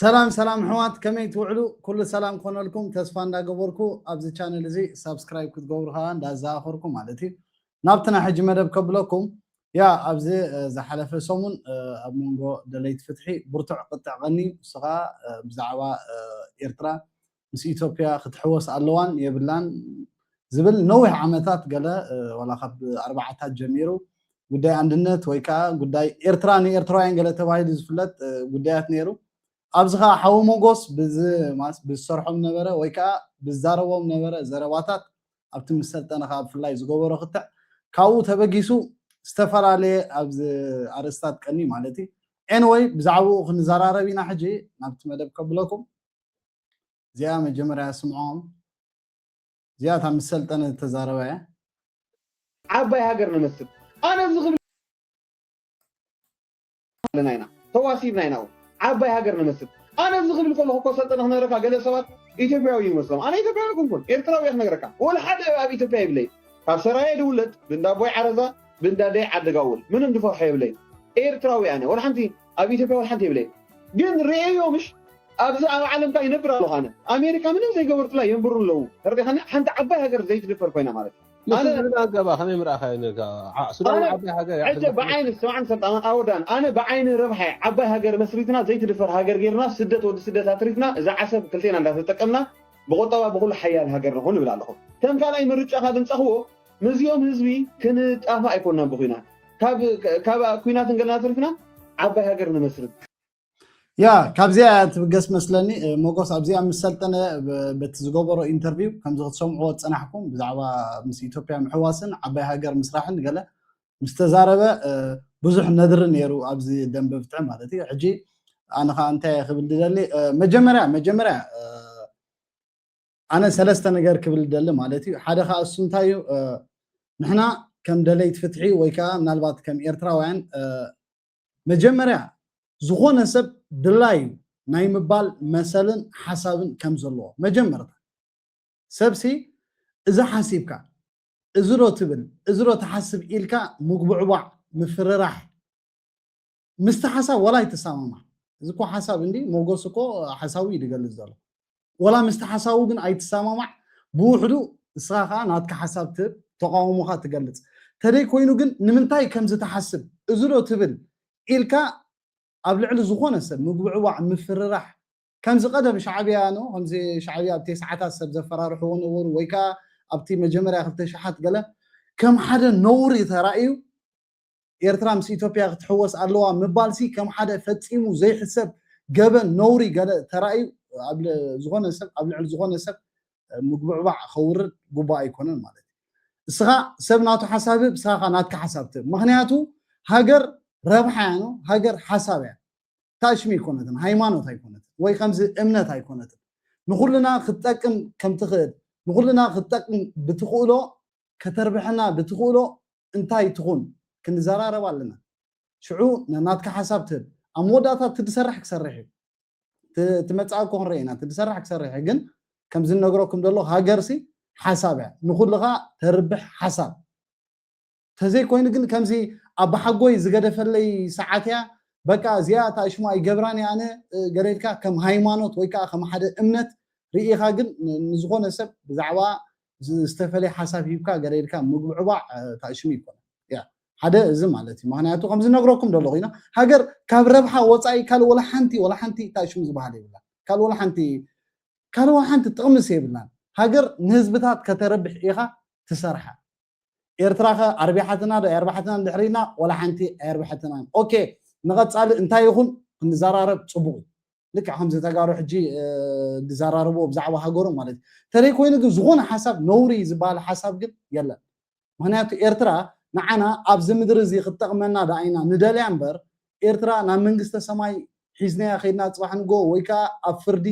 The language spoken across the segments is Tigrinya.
ሰላም ሰላም ሕዋት ከመይ ትውዕሉ ኩሉ ሰላም ኮነልኩም ተስፋ እንዳገበርኩ ኣብዚ ቻነል እዚ ሳብስክራይብ ክትገብሩ ከዓ እንዳዘኻኸርኩ ማለት እዩ ናብቲ ናይ ሕጂ መደብ ከብለኩም ያ ኣብዚ ዝሓለፈ ሰሙን ኣብ መንጎ ደለይቲ ፍትሒ ብርቱዕ ቅጥዕ ቀኒ ንሱ ከዓ ብዛዕባ ኤርትራ ምስ ኢትዮጵያ ክትሕወስ ኣለዋን የብላን ዝብል ነዊሕ ዓመታት ገለ ዋላ ካብ ኣርባዓታት ጀሚሩ ጉዳይ ኣንድነት ወይ ከዓ ጉዳይ ኤርትራ ንኤርትራውያን ገለ ተባሂሉ ዝፍለጥ ጉዳያት ነይሩ። ኣብዚ ከዓ ሓዊ ሞጎስ ብዝሰርሖም ነበረ ወይ ከዓ ብዛረቦም ነበረ ዘረባታት ኣብቲ ምስ ሰልጠነ ከዓ ብፍላይ ዝገበሮ ክትዕ ካብኡ ተበጊሱ ዝተፈላለየ ኣብዚ ኣርእስታት ቀንዩ ማለት እዩ ኤንወይ ብዛዕባኡ ክንዘራረብ ኢና ሕጂ ናብቲ መደብ ከብለኩም። እዚኣ መጀመርያ ስምዖም እዚኣ እታ ምስ ሰልጠነ ዝተዛረባ እያ ዓባይ ሃገር ንመስል ኣነ እዚ ክብል ኣለና ኢና ተዋሲብና ኢና እውን ዓባይ ሃገር ንመስል ኣነ እዚ ክብል ከለኹ እኮ ሰልጠነ ክነግረካ ገለ ሰባት ኢትዮጵያዊ እዩ መስሎም ኣነ ኢትዮጵያዊ ኣይኮንኩን ኤርትራዊ እየ ክነግረካ ወላ ሓደ ኣብ ኢትዮጵያ ይብለይ ካብ ሰራየ ድውለድ ብንዳቦይ ዓረዛ ብንዳደይ ዓደጋውል ምንም ድፈርሖ የብለይ ኤርትራዊ ኣነ ወላ ሓንቲ ኣብ ኢትዮጵያ ወላ ሓንቲ የብለይን ግን ሪኤዮ ምሽ ኣብዚ ኣብ ዓለም ታይ ይነብር ኣለኩ ኣነ ኣሜሪካ ምንም ዘይገበርኩላ የንብሩ ኣለዉ ተረዲካኒ ሓንቲ ዓባይ ሃገር ዘይትድፈር ኮይና ማለት እዩ ኣነ ንሱ ኣገባ ከመይ ምርኣካዮ ነርካ ዓዕ ሱዳን ኣነ ዓባይ ሃገር እያ ሕጂ ክትመስል ብዓይኒ ስምዓኒ ሰልጣን ኣወዳን ኣነ ብዓይኒ ረብሓይ ዓባይ ሃገር መስሪትና ዘይትድፈር ሃገር ጌርና ስደት ወዲ ስደት ኣትሪፍና እዛ ዓሰብ ክልቴና እንዳተጠቀምና ብቁጠባ ብኩሉ ሓያል ሃገር ንኩን እብል ኣለኩ ከም ካልኣይ ምርጫ ካብ እንጸክዎ ምስዚኦም ህዝቢ ክንጣፋእ ኣይኮናን ብኩናት ካብ ኩናት እንገለና ተሪፍና ዓባይ ሃገር ንመስርት። ያ ካብዚኣ እያ ትብገስ መስለኒ ሞጎስ ኣብዚኣ ምስ ሰልጠነ በቲ ዝገበሮ ኢንተርቪው ከምዚ ክትሰምዕዎ ዝፀናሕኩም ብዛዕባ ምስ ኢትዮጵያ ምሕዋስን ዓባይ ሃገር ምስራሕን ገለ ምስ ተዛረበ ብዙሕ ነድሪ ነይሩ ኣብዚ ደንበ ፍትሒ ማለት እዩ ሕጂ ኣነ ከዓ እንታይ ክብል ድደሊ መጀመርያ መጀመርያ ኣነ ሰለስተ ነገር ክብል እደሊ ማለት እዩ ሓደ ካኣ እሱ እንታይ እዩ ንሕና ከም ደለይት ፍትሒ ወይ ካኣ ምናልባት ከም ኤርትራውያን መጀመርያ ዝኾነ ሰብ ድላዩ ናይ ምባል መሰልን ሓሳብን ከም ዘለዎ መጀመርታ ሰብሲ እዚ ሓሲብካ እዚ ዶ ትብል እዚ ዶ ትሓስብ ኢልካ ምጉብዕቧዕ ምፍርራሕ ምስቲ ሓሳብ ዋላ ኣይትሰማማዕ እዚ እኮ ሓሳብ እንዲ ሞጎስ እኮ ሓሳቡ እዩ ዝገልጽ ዘሎ ዋላ ምስቲ ሓሳቡ ግን ኣይትሰማማዕ ብውሕዱ ንስኻ ከዓ ናትካ ሓሳብ ትህብ ተቃውሞኻ ትገልጽ ተደይ ኮይኑ ግን ንምንታይ ከምዚ ትሓስብ እዚ ዶ ትብል ኢልካ ኣብ ልዕሊ ዝኾነ ሰብ ምጉብዕባዕ ምፍርራሕ ከምዚ ቀደም ሻዕብያ ን ከምዚ ሻዕብያ ኣብ ቴስዓታት ሰብ ዘፈራርሕዎ ነበሩ ወይ ከዓ ኣብቲ መጀመርያ ክልተ ሽሓት ገለ ከም ሓደ ነውሪ ተራእዩ ኤርትራ ምስ ኢትዮጵያ ክትሕወስ ኣለዋ ምባልሲ ከም ሓደ ፈጺሙ ዘይሕሰብ ገበን ነውሪ ገለ ተራእዩ ኣብ ዝኾነ ሰብ ኣብ ልዕሊ ዝኾነ ሰብ ምጉብዕባዕ ከውርድ ጉቡእ ኣይኮነን ማለት እዩ። እስኻ ሰብ ናቱ ሓሳብ ህብ፣ እስኻ ከኣ ናትካ ሓሳብ ትህብ። ምኽንያቱ ሃገር ረብሓ እያ ነው፣ ሃገር ሓሳብ እያ። ታሽሚ ኣይኮነትን፣ ሃይማኖት ኣይኮነትን፣ ወይ ከምዚ እምነት ኣይኮነትን። ንኹልና ክትጠቅም ከም ትኽእል ንኹልና ክትጠቅም ብትኽእሎ ከተርብሐና ድትኽእሎ እንታይ ትኹን ክንዘራረብ ኣለና ሽዑ ነናትካ ሐሳብ ትህብ ኣብ መወዳእታ እቲ ድሰራሕ ክሰርሕ እዩ እቲ እቲ መጻኢ እኮ ክንርኢ ኢና እቲ ድሰራሕ ክሰርሕ እዩ ግን ከምዚ ንነግረኩም ደለኹ ሃገርሲ ሐሳብ እያ ንኹልኻ ተርብሕ ሐሳብ ተዘይኮይኑ ግን ከምዚ ኣባሓጎይ ዝገደፈለይ ሰዓት እያ በቃ እዚኣ እታ ሽሙ ኣይገብራን እያ ኣነ ገለ ኢልካ ከም ሃይማኖት ወይ ከዓ ከም ሓደ እምነት ርኢኻ ግን ንዝኾነ ሰብ ብዛዕባ ዝተፈለየ ሓሳብ ሂብካ ገለ ኢልካ ምጉብዕባዕ ታእሽሙ ይኮነ ያ ሓደ እዚ ማለት እዩ ምክንያቱ ከምዚ ነግረኩም ደሎ ኮይና ሃገር ካብ ረብሓ ወፃኢ ካልእ ወላ ሓንቲ ወላ ሓንቲ ታእሽሙ ዝበሃል የብላ ካልእ ወላ ሓንቲ ካልእ ወላ ሓንቲ ጥቕምስ የብላን ሃገር ንህዝብታት ከተረብሕ ኢኻ ትሰርሓ ኤርትራ ከ ኣርቢሓትና ዶ ኣየርባሓትናን ድሕሪና ወላ ሓንቲ ኣየርብሐትናን ኦኬ ንቐፃሊ እንታይ ይኹን ክንዘራረብ ፅቡቕ እዩ ልክዕ ከምዚ ተጋሩ ሕጂ ዝዘራረብዎ ብዛዕባ ሃገሮም ማለት እዩ ተደይ ኮይኑ ግን ዝኾነ ሓሳብ ነውሪ ዝበሃል ሓሳብ ግን የለን ምክንያቱ ኤርትራ ንዓና ኣብዚ ምድሪ እዚ ክትጠቕመና ደኣ ኢና ንደልያ እምበር ኤርትራ ናብ መንግስተ ሰማይ ሒዝናያ ከይድና ፅባሕ ንጎ ወይ ከዓ ኣብ ፍርዲ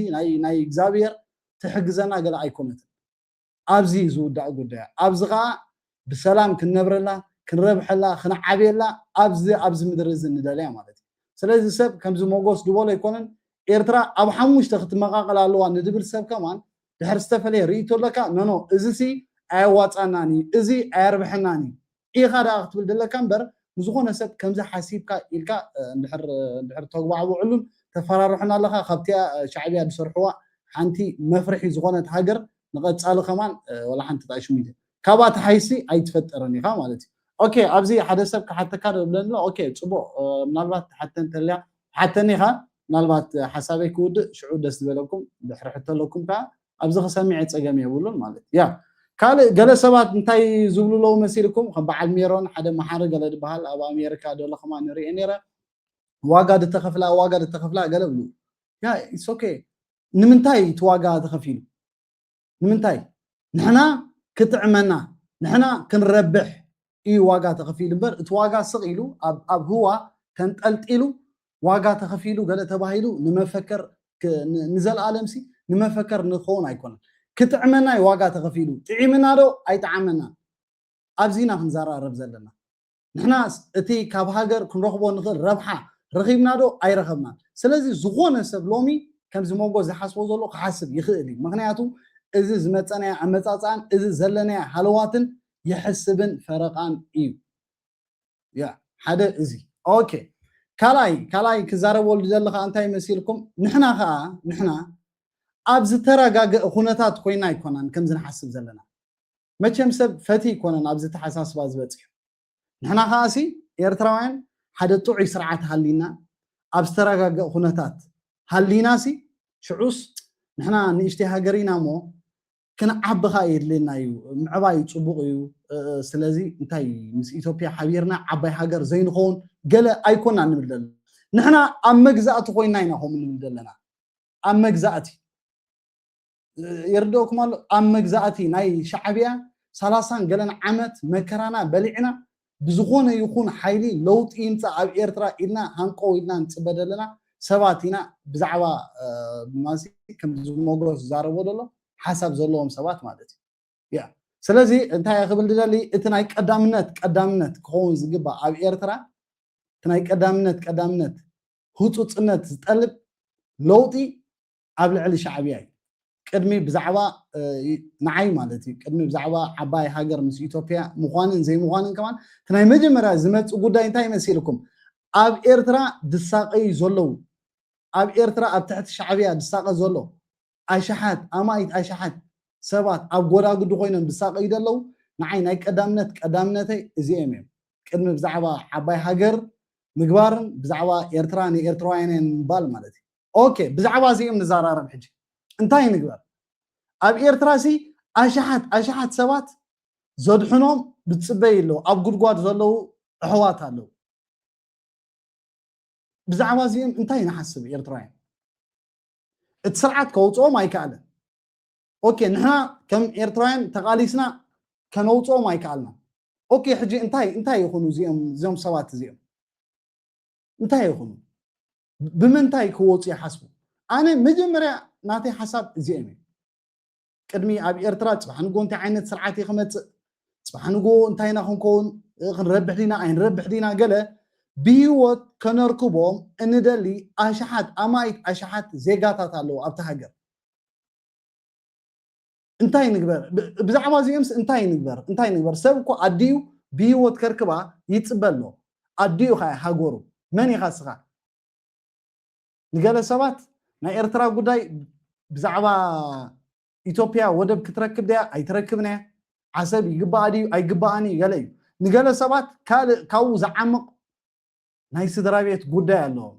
ናይ እግዚኣብሔር ትሕግዘና ገለ ኣይኮነትን ኣብዚ እዩ ዝውዳእ ጉዳያ። ኣብዚ ከኣ ብሰላም ክንነብረላ፣ ክንረብሐላ፣ ክንዓብየላ ኣብዚ ኣብዚ ምድሪ እዚ ንደልያ ማለት እዩ። ስለዚ ሰብ ከምዚ ሞጎስ ድበሎ ኣይኮነን ኤርትራ ኣብ ሓሙሽተ ክትመቃቀል ኣለዋ ንድብል ሰብ ከማን ድሕር ዝተፈለየ ርእይቶ ኣለካ ኖኖ እዚሲ ኣየዋጻናን እዩ እዚ ኣየርብሐናን እዩ ኢኻ ደኣ ክትብል ደለካ እምበር ንዝኾነ ሰብ ከምዚ ሓሲብካ ኢልካ እንድሕር እንድሕር ተጉባዕቡዕሉን ተፈራርሑን ኣለኻ ካብቲኣ ሻዕብያ ዝሰርሕዋ ሓንቲ መፍርሒ ዝኾነት ሃገር ንቐጻሊ ከማን ወላ ሓንቲ ጥራይ ሽሚንቶ ካብኣ ተሓይሲ ኣይትፈጥርን ኢኻ ማለት እዩ ኦኬ ኣብዚ ሓደ ሰብ ክሓተካ ዶ ይብለኒ ኣሎ ኦኬ ጽቡቕ ምናልባት ትሓተ እንተልያ ሓተኒ ኢኻ ምናልባት ሓሳበይ ክውድእ ሽዑ ደስ ዝበለኩም ድሕሪ ሕቶ ኣለኩም ከኣ ኣብዚ ክሰሚዐ ጸገም የብሉን ማለት እያ ካልእ ገለ ሰባት እንታይ ዝብሉ ኣለዉ መሲልኩም ከም በዓል ሜሮን ሓደ መሓሪ ገለ ድበሃል ኣብ ኣሜሪካ ደለኹማ ንሪኤ ነይረ ዋጋ ድተኸፍላ ዋጋ ድተኸፍላ ገለ ብሉ ያ ኢሶኬ ንምንታይ እቲ ዋጋ ተኸፊሉ ንምንታይ ንሕና ክጥዕመና ንሕና ክንረብሕ ኢዩ ዋጋ ተኸፊሉ እምበር እቲ ዋጋ ስቕ ኢሉ ኣብ ኣብ ህዋ ተንጠልጢሉ ዋጋ ተኸፊሉ ገለ ተባሂሉ ንመፈከር ንዘልኣለምሲ ንመፈከር ንኸውን ኣይኮነን ክጥዕመና ኢዩ ዋጋ ተኸፊሉ ጥዒምና ዶ ኣይጠዓመናን ኣብዚ ኢና ክንዘራረብ ዘለና ንሕና እቲ ካብ ሃገር ክንረኽቦ ንኽእል ረብሓ ረኺብና ዶ ኣይረኸብናን ስለዚ ዝኾነ ሰብ ሎሚ ከምዚ ሞጎ ዝሓስቦ ዘሎ ክሓስብ ይኽእል እዩ ምክንያቱ እዚ ዝመፀናዮ ኣመፃፅኣን እዚ ዘለናዮ ሃለዋትን የሕስብን ፈረቃን እዩ ያ ሓደ እዚ ኦኬ ካልኣይ ካልኣይ ክዛረበሉ ዝደሊ ከዓ እንታይ መሲልኩም ንሕና ከዓ ንሕና ኣብ ዝተረጋገእ ኩነታት ኮይና ኣይኮናን ከምዚ ንሓስብ ዘለና መቸም ሰብ ፈቲ ይኮነን ኣብዚ ተሓሳስባ ዝበፅሑ ንሕና ከዓ ሲ ኤርትራውያን ሓደ ጥዑይ ስርዓት ሃሊና ኣብ ዝተረጋገእ ኩነታት ሃሊና ሲ ሽዑስ ንሕና ንእሽተይ ሃገር ኢና እሞ ክንዓቢ ከኣ የድልየና እዩ ምዕባይ ጽቡቅ እዩ ስለዚ እንታይ ምስ ኢትዮጵያ ሓቢርና ዓባይ ሃገር ዘይንኸውን ገለ ኣይኮና ንብል ዘለና ንሕና ኣብ መግዛእቲ ኮይና ኢና ከምኡ ንብል ዘለና ኣብ መግዛእቲ ይርድኦኩም ኣሎ ኣብ መግዛእቲ ናይ ሻዕብያ ሰላሳን ገለን ዓመት መከራና በሊዕና ብዝኾነ ይኹን ሓይሊ ለውጢ ይምጻእ ኣብ ኤርትራ ኢልና ሃንቀው ኢልና ንጽበ ዘለና ሰባት ኢና ብዛዕባ ማሲ ከምዚ ሞጎስ ዝዛረቦ ዘሎ ሓሳብ ዘለዎም ሰባት ማለት እዩ ያ ስለዚ እንታይ ክብል ድደሊ እቲ ናይ ቀዳምነት ቀዳምነት ክኸውን ዝግባእ ኣብ ኤርትራ እቲ ናይ ቀዳምነት ቀዳምነት ህፁፅነት ዝጠልብ ለውጢ ኣብ ልዕሊ ሻዕብያ እዩ ቅድሚ ብዛዕባ ንዓይ ማለት እዩ ቅድሚ ብዛዕባ ዓባይ ሃገር ምስ ኢትዮጵያ ምዃንን ዘይምዃንን ከማን እቲ ናይ መጀመርያ ዝመፅእ ጉዳይ እንታይ መሲልኩም ኣብ ኤርትራ ድሳቀዩ ዘለዉ ኣብ ኤርትራ ኣብ ትሕቲ ሻዕብያ ድሳቀ ዘሎ ኣሽሓት ኣማኢት ኣሽሓት ሰባት ኣብ ጎዳጉዲ ኮይኖም ድሳቀዩ ዘለዉ ንዓይ ናይ ቀዳምነት ቀዳምነተይ እዚኦም እዮም ቅድሚ ብዛዕባ ዓባይ ሃገር ምግባርን ብዛዕባ ኤርትራ ንኤርትራውያንን ምባል ማለት እዩ ኦኬ ብዛዕባ እዚኦም ንዛራረብ ሕጂ እንታይ ንግበር ኣብ ኤርትራ ሲ ኣሽሓት ኣሽሓት ሰባት ዘድሕኖም ዝጽበዩ ኣለዉ ኣብ ጉድጓድ ዘለዉ ኣሕዋት ኣለዉ ብዛዕባ እዚኦም እንታይ ንሓስብ ኤርትራውያን እቲ ስርዓት ከውፅኦም ኣይከኣለን ኦኬ ንሕና ከም ኤርትራውያን ተቓሊስና ከነውፅኦም ኣይከኣልና ኦኬ ሕጂ እንታይ እንታይ ይኹኑ እዚኦም እዚኦም ሰባት እዚኦም እንታይ ይኹኑ ብምንታይ ክወፁ ይሓስቡ? ኣነ መጀመርያ ናተይ ሓሳብ እዚኦም እዩ። ቅድሚ ኣብ ኤርትራ ፅባሕ ንጎ እንታይ ዓይነት ስርዓት እዩ ክመፅእ፣ ፅባሕ ንጎ እንታይ ኢና ክንከውን፣ ክንረብሕ ዲና ኣይንረብሕ ዲና ገለ ብሂወት ከነርክቦም እንደሊ ኣሽሓት ኣማኢት ኣሽሓት ዜጋታት ኣለዉ ኣብቲ ሃገር። እንታይ ንግበር ብዛዕባ እዚኦምስ እንታይ ንግበር እንታይ ንግበር ሰብ እኮ ኣዲኡ ብሂወት ከርክባ ይፅበ ኣሎ ኣዲኡ ካያ ሃገሩ መን ኢኻ ስኻ ንገለ ሰባት ናይ ኤርትራ ጉዳይ ብዛዕባ ኢትዮጵያ ወደብ ክትረክብ ድያ ኣይትረክብን እያ ዓሰብ ይግባኣ ድዩ ኣይግባኣን እዩ ገለ እዩ ንገለ ሰባት ካልእ ካብኡ ዝዓምቕ ናይ ስድራ ቤት ጉዳይ ኣለዎም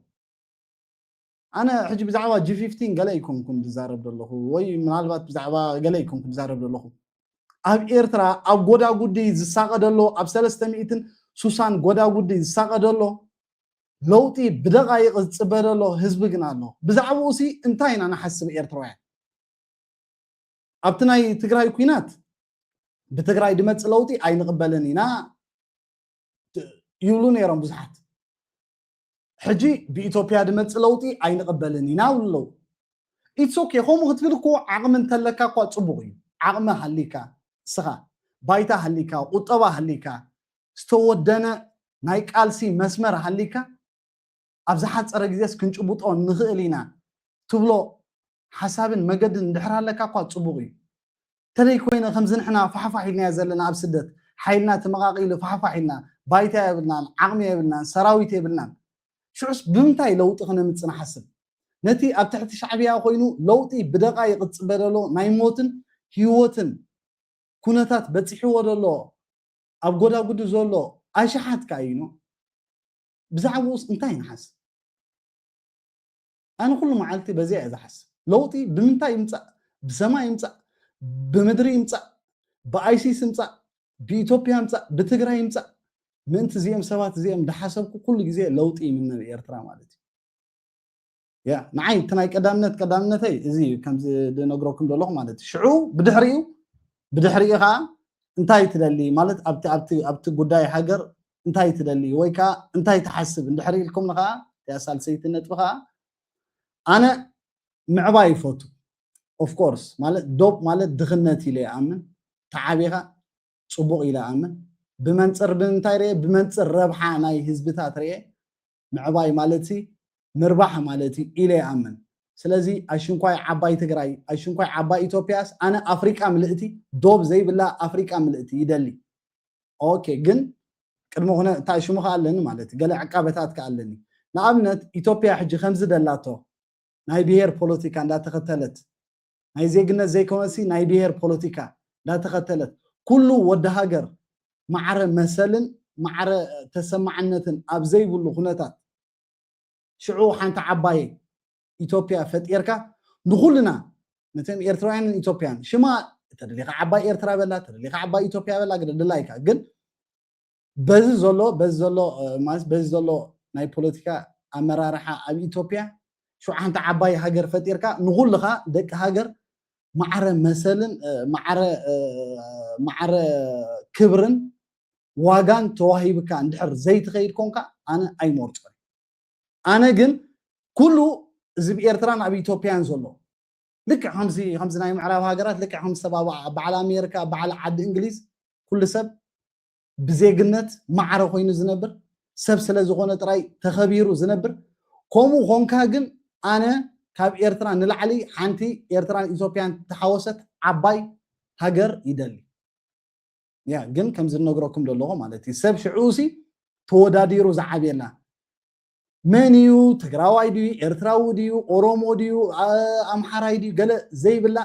ኣነ ሕጂ ብዛዕባ ጂፊፍቲን ገለ ኣይኮንኩን ዝዛረብ ዘለኹ ወይ ምናልባት ብዛዕባ ገለ ኣይኮንኩን ዝዛረብ ዘለኹ ኣብ ኤርትራ ኣብ ጎዳጉዲ ዝሳቐ ደሎ ኣብ ሰለስተ ሚእትን ሱሳን ጎዳጉዲ ዝሳቐ ደሎ ለውጢ ብደቓይቕ ዝፅበ ደሎ ህዝቢ ግን ኣሎ ብዛዕባኡ ሲ እንታይ ኢና ንሓስብ ኤርትራውያን ኣብቲ ናይ ትግራይ ኩናት ብትግራይ ድመፅእ ለውጢ ኣይንቕበልን ኢና ይብሉ ነይሮም ብዙሓት ሕጂ ብኢቶፕያ ድመጽእ ለውጢ ኣይንቅበልን ኢና ይብሉ ኣለዉ ኢትስ ኦኬ ከምኡ ክትብል እኮ ዓቅሚ እንተለካ እኳ ጽቡቅ እዩ ዓቅሚ ሃሊካ እስኻ ባይታ ሃሊካ ቁጠባ ሃሊካ ዝተወደነ ናይ ቃልሲ መስመር ሃሊካ ኣብ ዝሓጸረ ግዜስ ክንጭቡጦ ንኽእል ኢና ትብሎ ሓሳብን መገድን እንድሕር ኣለካ እኳ ጽቡቅ እዩ ተለይ ኮይነ ከምዚ ንሕና ፋሕፋሕ ኢልናያ ዘለና ኣብ ስደት ሓይልና ተመቃቂሉ ፋሕፋሕ ኢልና ባይታ የብልናን ዓቅሚ የብልናን ሰራዊት የብልናን ሽዑስ ብምንታይ ለውጢ ክነምጽእ ንሓስብ ነቲ ኣብ ትሕቲ ሻዕብያ ኮይኑ ለውጢ ብደቃይቅ ዝጽበ ዘሎ ናይ ሞትን ሂወትን ኩነታት በጺሕዎ ዘሎ ኣብ ጎዳጉዲ ዘሎ ኣሽሓት ካይኖ ብዛዕብኡስ እንታይ ንሓስብ። ኣነ ኩሉ መዓልቲ በዚኣ እየ ዝሓስብ ለውጢ ብምንታይ ይምፃእ ብሰማይ ይምፃእ ብምድሪ ይምፃእ ብኣይሲስ ይምፃእ ብኢትዮጵያ ይምፃእ ብትግራይ ይምፃእ ምእንቲ እዚኦም ሰባት እዚኦም እንዳሓሰብኩ ኩሉ ግዜ ለውጢ ይምነ ንኤርትራ ማለት እዩ ያ ንዓይ እቲ ናይ ቀዳምነት ቀዳምነተይ እዚ እዩ ከምዚ ዝነግረኩም ዘለኹ ማለት እዩ ሽዑ ብድሕሪኡ ብድሕሪኡ ከዓ እንታይ ትደሊ ማለት ኣብቲ ኣብቲ ኣብቲ ጉዳይ ሃገር እንታይ ትደሊ ወይ ከዓ እንታይ ትሓስብ እንድሕር ኢልኩም ከዓ እቲኣ ሳልሰይቲ ነጥቢ ከዓ ኣነ ምዕባይ ይፈቱ ኦፍኮርስ ማለት ዶብ ማለት ድኽነት ኢለ ይኣምን ተዓቢኻ ፅቡቕ ኢለ ኣምን ብመንፅር ብምንታይ ርየ ብመንፅር ረብሓ ናይ ህዝብታት ርየ ምዕባይ ማለትሲ ምርባሕ ማለት እዩ ኢለ ይኣምን። ስለዚ ኣሽንኳይ ዓባይ ትግራይ ኣሽንኳይ ዓባይ ኢትዮጵያስ ኣነ ኣፍሪቃ ምልእቲ ዶብ ዘይብላ ኣፍሪቃ ምልእቲ ይደሊ ኦኬ ግን ቅድሚ ኩነ እንታይ ሽሙ ከ ኣለኒ ማለት ገለ ዕቃበታት ከ ኣለኒ ንኣብነት ኢትዮጵያ ሕጂ ከምዚ ደላቶ ናይ ብሄር ፖለቲካ እንዳተኸተለት ናይ ዜግነት ዘይኮነሲ ናይ ብሄር ፖለቲካ ዳተኸተለት ኩሉ ወዲ ሃገር ማዕረ መሰልን ማዕረ ተሰማዕነትን ኣብ ዘይብሉ ኩነታት ሽዑ ሓንቲ ዓባይ ኢትዮጵያ ፈጢርካ ንኹልና ነቶም ኤርትራውያንን ኢትዮጵያን ሽማ ተደሊኻ ዓባይ ኤርትራ በላ ተደሊኻ ዓባይ ኢትዮጵያ በላ ግደድላይካ ግን በዚ ዘሎ በዚ ዘሎ ማለት በዚ ዘሎ ናይ ፖለቲካ ኣመራርሓ ኣብ ኢትዮጵያ ሸውዓንተ ዓባይ ሃገር ፈጢርካ ንኹልኻ ደቂ ሃገር ማዕረ መሰልን ማዕረ ማዕረ ክብርን ዋጋን ተዋሂብካ እንድሕር ዘይትኸይድ ኮንካ ኣነ ኣይመርፆን ኣነ ግን ኩሉ እዚ ብ ኤርትራን ኣብ ኢትዮጵያን ዘሎ ልክዕ ከምዚ ከምዚ ናይ ምዕራብ ሃገራት ልክዕ ከም ዝተባብዓ በዓል ኣሜሪካ በዓል ዓዲ እንግሊዝ ኩሉ ሰብ ብዜግነት ማዕረ ኮይኑ ዝነብር ሰብ ስለ ዝኾነ ጥራይ ተኸቢሩ ዝነብር ከምኡ ኾንካ ግን ኣነ ካብ ኤርትራ ንላዕሊ ሓንቲ ኤርትራን ኢትዮጵያን ተሓወሰት ዓባይ ሃገር ይደሊ ያ ግን ከምዚ ነግረኩም ዘለኹ ማለት እዩ ሰብ ሽዑሲ ተወዳዲሩ ዝዓብየላ መን እዩ ትግራዋይ ድዩ ኤርትራዊ ድዩ ኦሮሞ ድዩ ኣምሓራይ ድዩ ገለ ዘይብላ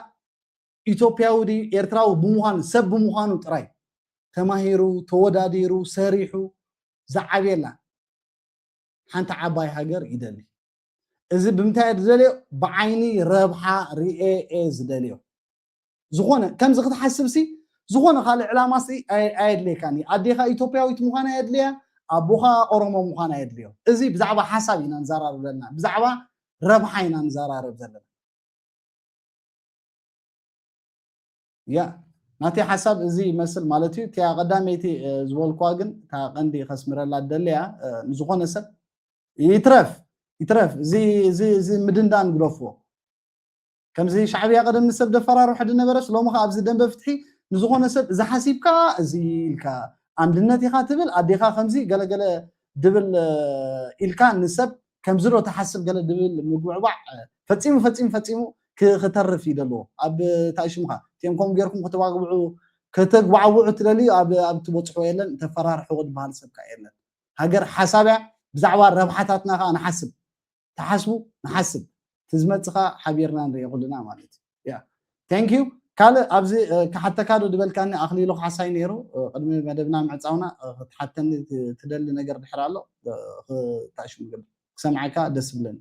ኢትዮጵያዊ ድዩ ኤርትራዊ ብምዃኑ ሰብ ብምዃኑ ጥራይ ተማሂሩ ተወዳዲሩ ሰሪሑ ዝዓብየላ ሓንቲ ዓባይ ሃገር ይደሊ። እዚ ብምንታይ እየ ዝደልዮ ብዓይኒ ረብሓ ርኤ እየ ዝደልዮ። ዝኾነ ከምዚ ክትሓስብሲ ዝኾነ ካልእ ዕላማሲ ኣየድልየካን እዩ። ኣዴኻ ኢትዮጵያዊት ምዃና የድልያ ኣቦኻ ኦሮሞ ምዃና የድልዮ። እዚ ብዛዕባ ሓሳብ ኢና ንዘራርብ ዘለና ብዛዕባ ረብሓ ኢና ንዘራርብ ዘለና። ያ ናተይ ሓሳብ እዚ ይመስል ማለት እዩ እቲያ ቀዳመይቲ ዝበልኳ ግን እታ ቀንዲ ከስምረላ ደለያ ንዝኾነ ሰብ ይትረፍ ይትረፍ እዚ ምድንዳን ግደፍዎ ከምዚ ሻዕብያ ቀደም ንሰብ ደፈራርሑ ድነበረስ ሎሚ ከዓ ኣብዚ ደንበ ፍትሒ ንዝኾነ ሰብ እዚ ሓሲብካ እዚ ኢልካ ኣንድነት ኢኻ ትብል ኣዴኻ ከምዚ ገለገለ ድብል ኢልካ ንሰብ ከምዚ ዶ ትሓስብ ገለ ድብል ምጉብዕባዕ ፈጺሙ ፈጺሙ ፈጺሙ ክተርፍ እዩ ደለዎ ኣብ ታይ ሽምካ እቲኦም ከምኡ ጌርኩም ከተባግብዑ ከተግባዕብዑ ትደልዩ ኣብ ኣብ ትበጽሕዎ የለን ተፈራርሕዎ ድበሃል ሰብ ከኣ የለን ሃገር ሓሳብ እያ ብዛዕባ ረብሓታትና ከኣ ንሓስብ ትሓስቡ ንሓስብ ትዝመጽ ከኣ ሓቢርና ንሪኦ ኩልና ማለት እዩ Thank you ካልእ ኣብዚ ክሓተካ ዶ ዝበልካኒ ኣኽሊሉ ካሕሳይ ነይሩ ቅድሚ መደብና ምዕጻውና ክትሓተኒ ትደሊ ነገር ድሕር ኣሎ ክታሽ ምግብ ክሰምዓካ ደስ ብለኒ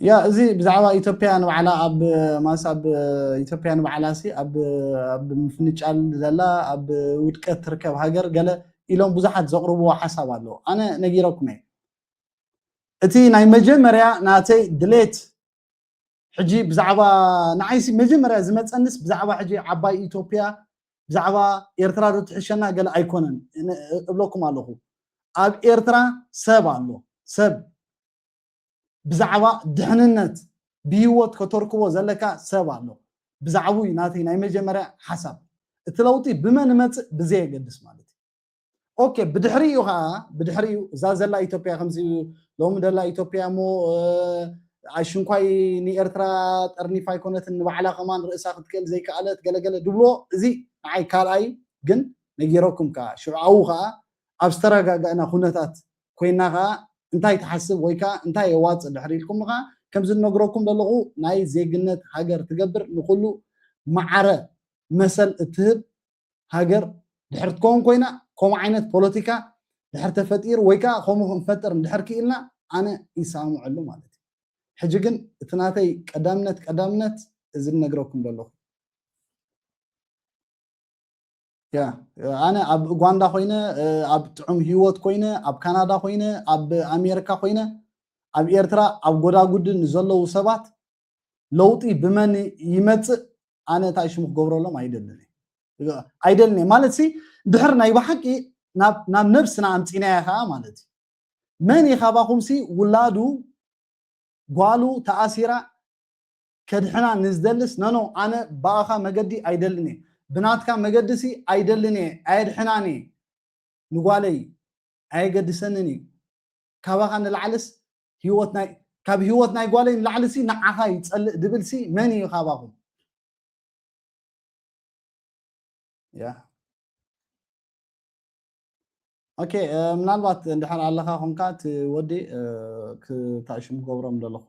ያ እዚ ብዛዕባ ኢትዮጵያ ንባዕላ ኣብ ማስ ኣብ ኢትዮጵያ ንባዕላ ሲ ኣብ ኣብ ምፍንጫል ዘላ ኣብ ውድቀት ትርከብ ሃገር ገለ ኢሎም ብዙሓት ዘቕርብዎ ሓሳብ ኣለዎ ኣነ ነጊረኩም እየ እቲ ናይ መጀመርያ ናተይ ድሌት ሕጂ ብዛዕባ ንዓይሲ መጀመርያ ዝመጸንስ ብዛዕባ ሕጂ ዓባይ ኢትዮጵያ ብዛዕባ ኤርትራ ዶ ትሕሸና ገለ ኣይኮነን እብለኩም ኣለኹ ኣብ ኤርትራ ሰብ ኣሎ ሰብ ብዛዕባ ድሕንነት ብሂወት ከተርክቦ ዘለካ ሰብ ኣሎ ብዛዕቡ እዩ ናተይ ናይ መጀመርያ ሓሳብ እቲ ለውጢ ብመን እመጽእ ብዘየገድስ ማለት እዩ ኦኬ ብድሕሪኡ ከዓ ብድሕሪኡ እዛ ዘላ ኢትዮጵያ ከምዚ ሎሚ ደላ ኢትዮጵያ እሞ ሽንኳይ ንኤርትራ ጠርኒፋ ኣይኮነትን ንባዕላ ከማን ርእሳ ክትክእል ዘይከኣለት ገለገለ ድብሎ እዚ ንዓይ ካልኣይ ግን ነጊረኩም ከዓ ሽዑኣዊ ከዓ ኣብ ዝተረጋጋእና ኩነታት ኮይና ከዓ እንታይ ትሓስብ ወይ ከዓ እንታይ የዋፅእ ድሕሪ ኢልኩም ከዓ ከምዚ እነግረኩም ዘለኹ ናይ ዜግነት ሃገር ትገብር ንኩሉ ማዕረ መሰል እትህብ ሃገር ድሕር ትከውን ኮይና ከምኡ ዓይነት ፖለቲካ ድሕር ተፈጢሩ ወይ ከዓ ከምኡ ክንፈጥር እንድሕር ክኢልና ኣነ ይሰማምዐሉ ማለት እዩ። ሕጂ ግን እቲ ናተይ ቀዳምነት ቀዳምነት እዚ ዝነግረኩም ዘለኹ ኣነ ኣብ ኡጋንዳ ኮይነ ኣብ ጥዑም ሂወት ኮይነ ኣብ ካናዳ ኮይነ ኣብ ኣሜሪካ ኮይነ ኣብ ኤርትራ ኣብ ጎዳጉዲ ንዘለዉ ሰባት ለውጢ ብመን ይመጽእ ኣነ እንታይ ሽሙ ክገብረሎም ኣይደልን እየ ኣይደልን እየ ማለት ሲ ድሕር ናይ ብሓቂ ናብ ነብስና ኣምፂናያ ከዓ ማለት እዩ መን እዩ ካባኹም ሲ ውላዱ ጓሉ ተኣሲራ ከድሕና ንዝደልስ ነኖ ኣነ ብኣኻ መገዲ ኣይደልን እየ ብናትካ መገዲ ሲ ኣይደልን እየ ኣየድሕናን እየ ንጓለይ ኣየገድሰንን እዩ ካባኻ ንላዕልስ ህይወት ናይ ካብ ህይወት ናይ ጓለይ ንላዕሊ ሲ ንዓኻ ይጸልእ ድብል ሲ መን እዩ ካባኹም ያ ኦኬ ምናልባት እንድሕር ኣለኻ ኮንካ እቲ ወዲ ክታእሽም ክገብሮም ዘለኹ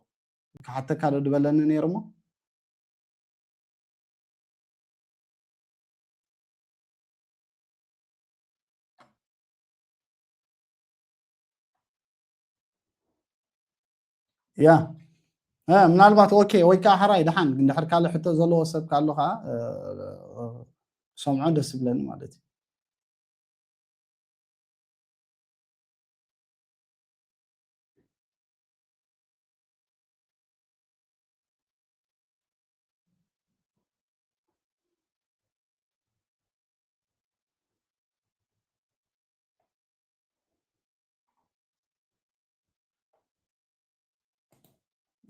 ክሓተካ ዶ ድበለኒ ነይሩ እሞ ያ ምናልባት ኦኬ ወይ ከዓ ሓራይ ድሓን እንድሕር ካልእ ሕቶ ዘለዎ ሰብ ካሎ ከዓ ሰምዖ ደስ ይብለኒ ማለት እዩ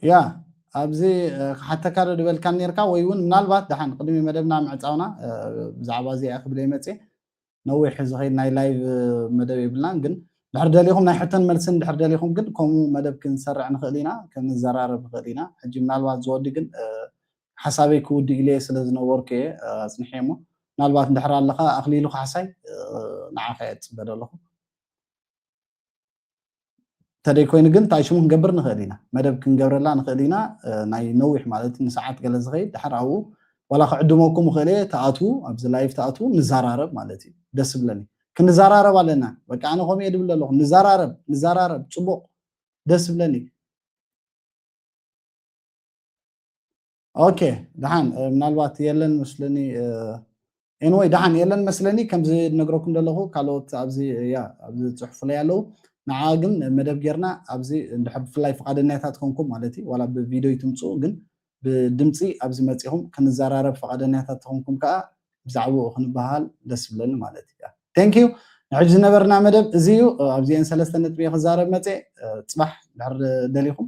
ያ ኣብዚ ክሓተካ ዶ ዝበልካ ነርካ ወይ እውን ምናልባት ድሓን ቅድሚ መደብና ምዕፃውና ብዛዕባ እዚኣ ክብል ይመፅ ነዊሕ ዝኸይድ ናይ ላይቭ መደብ የብልናን ግን ድሕር ደሊኹም ናይ ሕቶን መልስን ድሕር ደሊኹም ግን ከምኡ መደብ ክንሰርዕ ንኽእል ኢና ክንዘራረብ ንኽእል ኢና ሕጂ ምናልባት ዝወዲ ግን ሓሳበይ ክውድ ኢለ ስለ ዝነበርኩ እየ ኣፅንሐ እሞ ምናልባት ድሕር ኣለኻ ኣኽሊሉ ካሕሳይ ንዓኸ እየ ዝፅበ ዘለኹ ተደይ ኮይኑ ግን እንታይ ሽሙ ክንገብር ንኽእል ኢና መደብ ክንገብረላ ንኽእል ኢና ናይ ነዊሕ ማለት ንሰዓት ገለ ዝኸይድ ድሓር ኣብኡ ዋላ ክዕድመኩም እኽእል እየ ተኣትዉ ኣብዚ ላይፍ ተኣትዉ ንዘራረብ ማለት እዩ ደስ ብለኒ ክንዘራረብ ኣለና በቃ ኣነ ከምኡ እየ ድብል ኣለኹ ንዘራረብ ንዘራረብ ፅቡቕ ደስ ብለኒ ኦኬ ደሓን ምናልባት የለን መስለኒ ኤንወይ ደሓን የለን መስለኒ ከምዚ ነግረኩም ዘለኹ ካልኦት ኣብዚ ያ ኣብዚ ፅሑፍለይ ኣለዉ ንዓ ግን መደብ ጌርና ኣብዚ እንድሕር ብፍላይ ፍቓደኛታት ኮንኩም ማለት እዩ ዋላ ብቪድዮ ይትምፅኡ ግን ብድምፂ ኣብዚ መፂኹም ክንዘራረብ ፍቓደኛታት ተኾንኩም ከዓ ብዛዕባኡ ክንበሃል ደስ ብለኒ ማለት እዩ ቴንክ ዩ ንሕጂ ዝነበርና መደብ እዚ እዩ ኣብዚአን ሰለስተ ነጥቢ ክዛረብ መፀ ፅባሕ ድሕር ደሊኹም